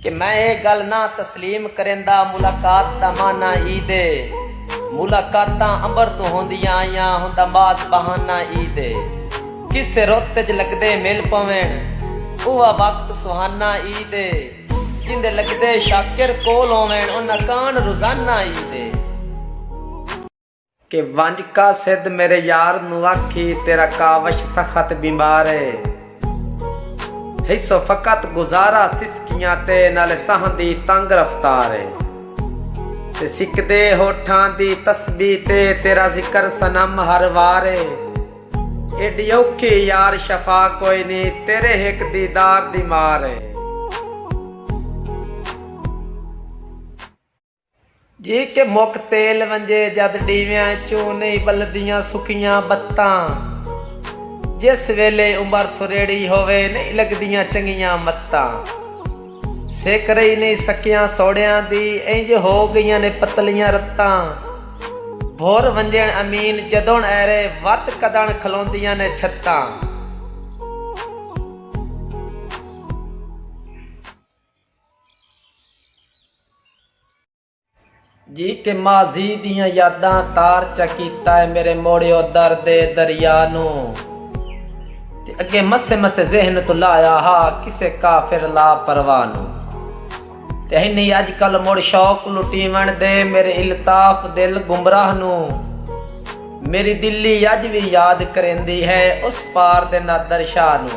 کہ میں اے گل نہ تسلیم کریندا ملاقات دا معنی عید اے ملاقاتاں امبر توں ہوندیاں آئیاں ہوندا ماس بہانہ عید اے کسے رت اچ لگدے مل پوین اوہا وقت سہانہ عید اے جیندے لگدے شاکر کول ہوون انہاں کان روزانہ عید اے۔ کہ ونج قاصد میرے یار نو آکھی تیرا کاوش سخت بیمار اے ہیسو فقط گزارا سسکیاں تے نالے ساہن دی تنگ رفتار اے تے سکدے ہوٹھاں دی تسبیح تے تیرا ذکر صنم ہر وار اے ایڈی اوکھی یار شفا کوئی نی تیرے ہک دیدار دی مار اے۔ جی کہ مک تیل ونجے جد ڈیویاں اچوں نئیں بلدیاں سکیاں بتاں جس ویلے عمر تھریڑی ہووے نئیں لگدیاں چنگیاں متاں سک رہی نئیں سکیاں سوڑیاں دی اینج ہو گئیاں نے پتلیاں رتاں بھر ونجن امین جدن ایرے وت کدن کھلوندیاں نے چھتاں۔ جی کہ ماضی دیاں یاداں تار چا کیتا ہے میرے موڑیو درد دریا نو تے اگے مسے مسے ذہن تو لایا ہا کسے کافر لا پرواہ نو تے ہن ہی اج کل مڑ شوق لٹیون دے میرے الطاف دل گمراہ نو میری دلی اج وی یاد کریندی ہے اس پار دے نادر شاہ نو